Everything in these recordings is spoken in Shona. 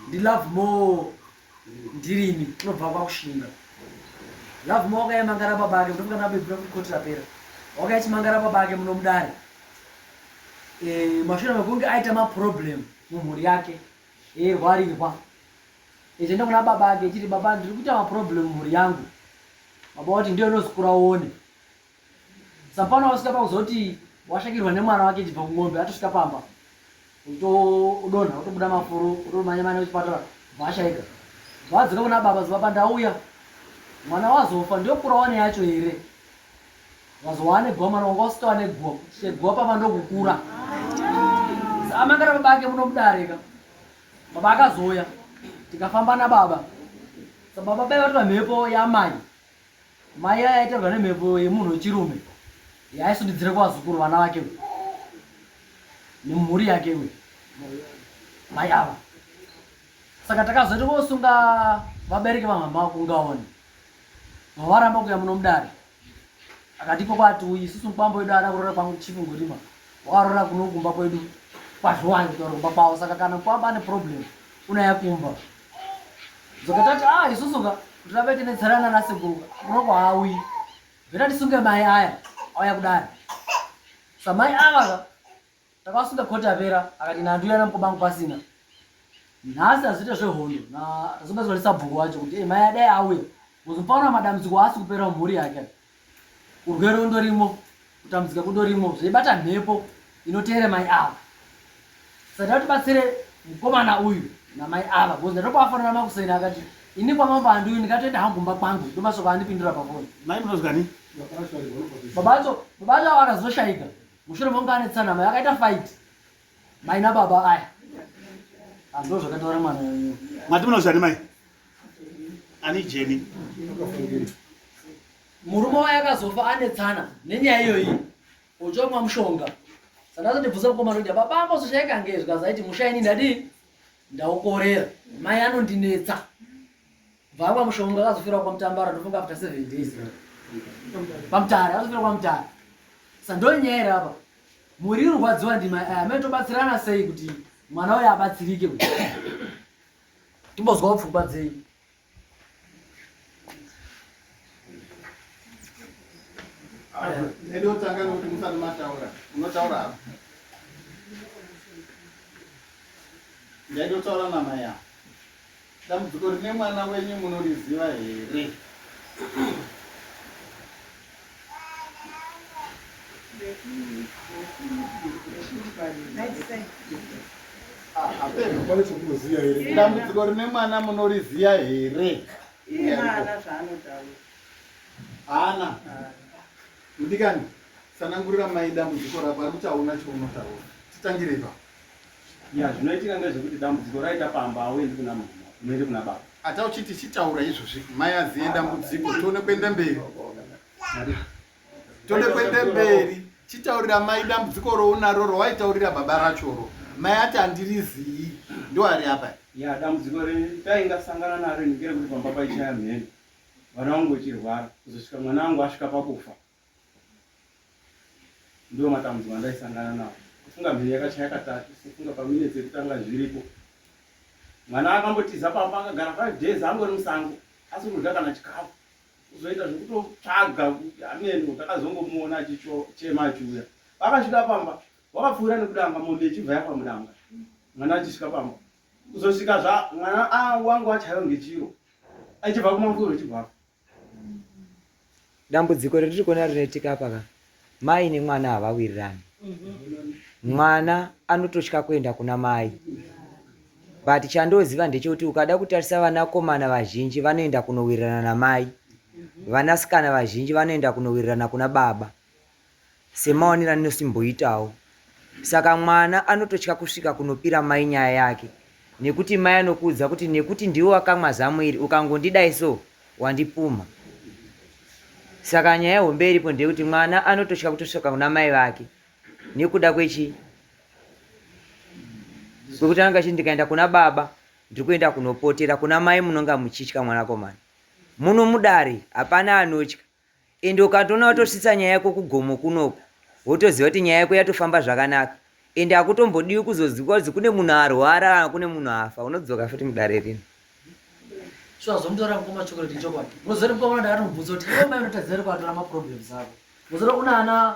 ndi love more ndirimi unobva kwakushinga love more wakayamangara baba ake ndofunga nabebura kuti koti rapera wakayachimangara baba ake munomudare eh, mashure mekunge aita maproblem mumhuri yake eirwarirwa echienda kuna baba ake echiti baba ndiri kuita maproblem mumhuri yangu baba wati ndiyo unozikura uone sapano wasvika pakuzoti washakirwa nemwana wake chibva kumombe atosvika pamba utodonha utobuda mafuru utomanya manya kuchipatara bvaashaika bvaadzoka kuna baba zibaba ndauya mwana wazofa ndiokura wane yacho here wazowa ane guwa mwana wanga usitowa neguwa cheguwa pamba ndokukura amangara baba ake munomudarika baba akazoya tikafamba nababa sababa baivatora mhepo yamai Mai aya aitaurwa nemhepo yemunhu wechirume yaaisunidzira kuvazukuru vana vake we nemhuri yake we mai ava saka takazoita kosunga vabereki vamama kungaone mavaramba kuya muno mudare akati iko kwati uyi isusu mukwambo wedu ada kurora kwangu chifu ngorima wakarora kuno kumba kwedu kwazviwanyi kutaura kumba kwavo saka kana mukwambo ane problem unaya kumba dzokatati a ah, isusu ka takaita netsarana nasekuru unoko haauyi zveta tisunge mai aya auya kudari samai ava ka takasunga koti apera akati nandu yana mukobangu pasina nhasi hazviite zvehondo tazobatswa nesabhuku wacho kuti eh, mai adai auya kuzopaona madambudziko aasi kupera mhuri yake urwere undorimo kutambudzika kundorimo zvaibata mhepo inoteere mai ava saka tati batsire mukomana uyu namai ava bcause ndatopafanira makuseni akati ini kwamambo andiuyi ndikatoenda hangu kumba kwangu ndomasoko andipindura pafoni mai munozwani babacho babacho avo akazoshayika mushure monga anetsanama yakaita fight Mai na baba aya. Andro zvakataura mwana wenyu. Mati munozvani mai? Ani Jenny. Murume waya akazofa ane tsana nenyaya iyoyi. Uchomwa mushonga. Saka azondibvunza mukoma ndokuti baba ambozoshaika ngezvi kazaiti mushaini ndadii? Ndaukorera. Mai anondinetsa. Vamwa mushonga akazofira kwa Mtambara ndofunga after 7 days. Pamtara akazofira kwa Mtara. Sandonyera hapa. Muri rwadziwa ndima eh, amene tobatsirana sei kuti mwana uyu abatsirike kuti. Timbozwa pfungwa dzei. Edo ah, tanga kuti musati mataura. Unotaura hapa. Ndaidotaura namai yako. Dambudziko rine mwana wenyu munoriziva here? Dambudziko rine mwana munoriziva here? Haana. Mudikani, sanangurira mai dambudziko rako, anotaona chaunotaura. Titangire ipapo. Ya zvinoitika ndezvekuti dambudziko raita pamba hauendi kuna mama unoende kuna baba. Ata uchiti chitaura izvozvi mai aziye dambudziko tione kuenda mberi. Tode kuenda mberi chitaurira mai dambudziko rounaro rowaitaurira baba rachoro mai ati handirizii ndoari apa ya dambudziko retaingasangana naro ndikere kuti pamba paichaya mhene vana vangu vechirwara kuzosvika mwana wangu asvika pakufa ndiwo matambudziko andaisangana nawo kufunga mheni yakachaya katatu kufunga paminutes yekutanga zviripo mwana akambotiza pamba akagara five days angori musango asiri kudya kana chikafu kuzoita zvekutotsvaga kuti ameno takazongomuona achichema achiuya vakasvika pamba wakapfuura nekudanga mombe ichibva yapa mudanga mwana achisvika pamba kuzosvika zva mwana a ah, wangu achaiwa ngechiro achibva kumafuro chibvafa dambudziko retiri kuona rinoitika apa ka mai nemwana havawirirani mwana anototya kuenda kuna mai but chandoziva ndechekuti ukada kutarisa vanakomana vazhinji vanoenda kunowirirana namai vanasikana vazhinji vanoenda kunowirirana kuna baba semaonero andinosimboitawo. Saka mwana anototya kusvika kunopira mai nyaya yake nekuti mai anokuudza kuti nekuti ndiwe wakamwa zamu iri ukangondidai so wandipumha. Saka nyaya hombe iripo ndeyekuti mwana anototya kutosvika kuna mai vake nekuda kwechi kwekuti anenge achiti ndikaenda kuna baba ndiri kuenda kunopotera kuna mai munonga muchitya mwanakomana muno mudare hapana anotya ende ukatoona watosvitsa nyaya yako kugomo kunoku wotoziva kuti nyaya yako yatofamba zvakanaka ende hakutombodiwi kuzoziva kuti kune munhu arwara kana kune munhu afa unodzoka futi mudare rino so azomutaura mukoma chocolate chokwadi mozori mukoma ndaatomubvunza kuti iwe mai unotaziva ri kwatora maproblems ako mozori una ana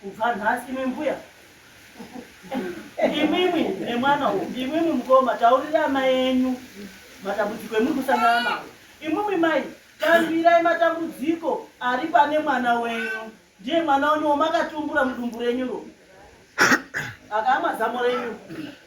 Kubva nhasi imi mbuya imimi nemwana uyu imimi mukoma taurira amai enyu matambudziko emuri kusangana nawo imimi mai tambirai matambudziko ari pane mwana wenyu ndiye mwana wenyu wamakatumbura mudumbu renyu ro akaamwa zamo renyu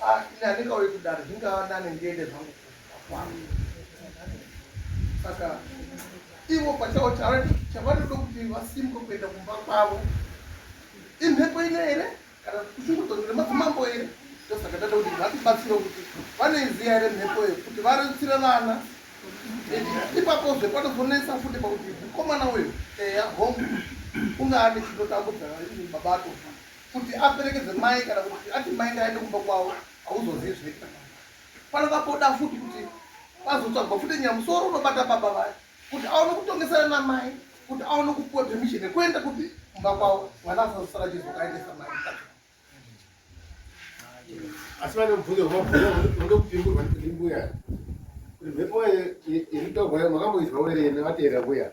Ah, ini handingauye kudaro zvingava nane ndiende zvangu kwangu saka ivo pachavo chavanoda kuti vasimke kuenda kumba kwavo imhepo ino here kana kushungudzonzira madzimambo here ndosaka ndada kuti vatibatsire kuti vanoiziva here mhepo iyo kuti varutsire vana ipapo zve panozonetsa futi pakuti mukomana uyu eya home ungaane chinotambudza baba atofa kuti aperekedze mai kana kuti ati mai ngaende kumba kwavo hauzozivi zvinoita pano vakoda futi kuti vazotsvagwa futi nyaya musoro unobata baba vaya kuti aone kutongesana namai kuti aone kupuwa permission yekuenda kuti kumba kwavo mwana asazosara chizokaendesa mai asi vane mubvunzo vanoda kupingurwa ndimbuya kuti mhepo iri taurwayo makamboizwa werene vateera mbuya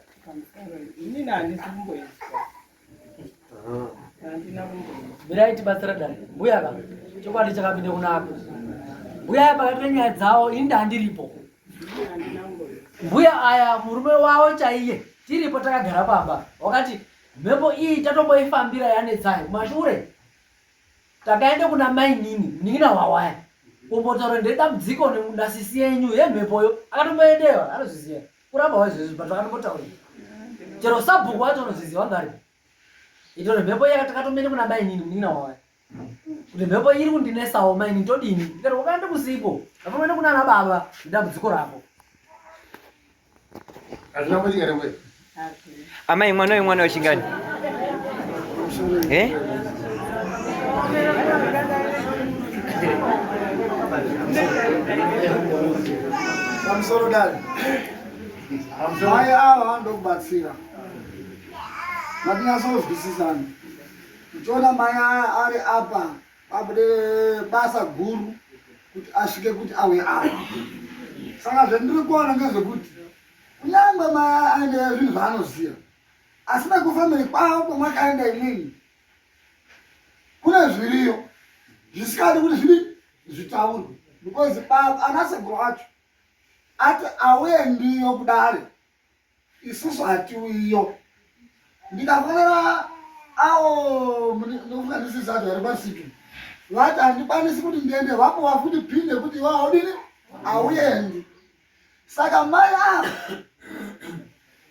inini handisi kumboizwa mirai tibatsira dani mbuya ka chokwadi chakapinda kunaka mbuya pakati penyaya dzawo ini ndandiripo mbuya aya murume wawo chaiye tiripo takagara pamba wakati mhepo iyi tatomboifambira yanetsai kumashure takaenda kuna mainini munin'ina wawaya kumbotaura ndedambudziko nasisi yenyu yemhepoyo akatomboendewa anozviziva kuramba waizvezvi but vakambotaura chero sabhuku wacho unozviziva wanga aripo itori mhepo iya takatomene kuna mainini munin'ina wawaya kuti mhepo iri kundinesawo mainini todini ndikati wakaenda kusipo ndatomene kuna ana baba ndidambudziko rako hazvina kuitika nemwe Amai mwana uyu mwana wechingani? Eh? Pamusoro dani. Mai ava vanoda kubatsira. Matinyatsonzwisisana. Uchiona mai aya ari apa pabude basa guru kuti asvike kuti auye apa. Saka zvandiri kuona ngezvekuti kunyangwe maaendera zvinhu zvaanoziva asi nekufamiri kwavo kwamakaenda imini kune zviriyo zvisikadi kuti zvidi zvitaurwe because baba anaseguru wacho ati awendiyo kudare isusu hatiwiyo ndikafonera awo nofunganisisa ati vari pasiki vati handikwanisi kuti ndiende vapo vafuti pinde kuti iwaodini auendi Saka mai ava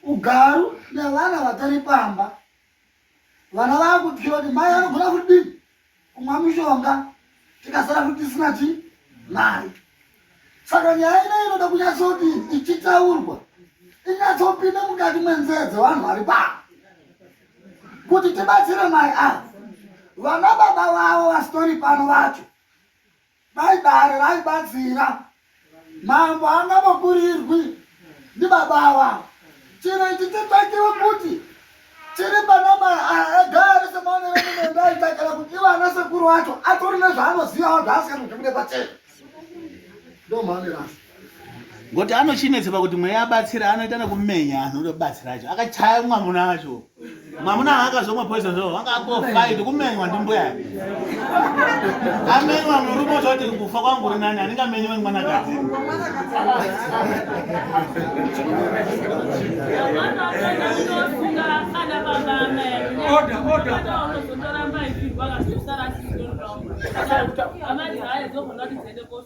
ugaru nevana vatari pamba, vana vava kutyira kuti mai vanogona kuti kumwa mishonga tikasara kuti tisina chi mari. Saka nyaya ino inoda kunyatsoti ichitaurwa inyatsopinda mukati mwenzee dzevanhu vari pamba kuti tibatsire mai ava vana baba vavo vasitori pano vacho Baibari raibatsira mambo angavakurirwi ndibaba ava chino ichi chitsvakiwe kuti chiri panama agare semaoneremunoendaaitakira kuti ivo ana sekuru wacho atori nezvaanozivawo zvaasinganotibude pachena ndomhanerasi ngoti anochinetsa pakuti mweya abatsira anoita nekumenya anhu ndobatsira acho akachaya mwamuna acho mwamuna akazomwa poison zvo wanga akofaiti kumenywa ndimbuya amenywa murume ozoti kufa kwangu uri nani anenge amenywa nemwanakadzi order order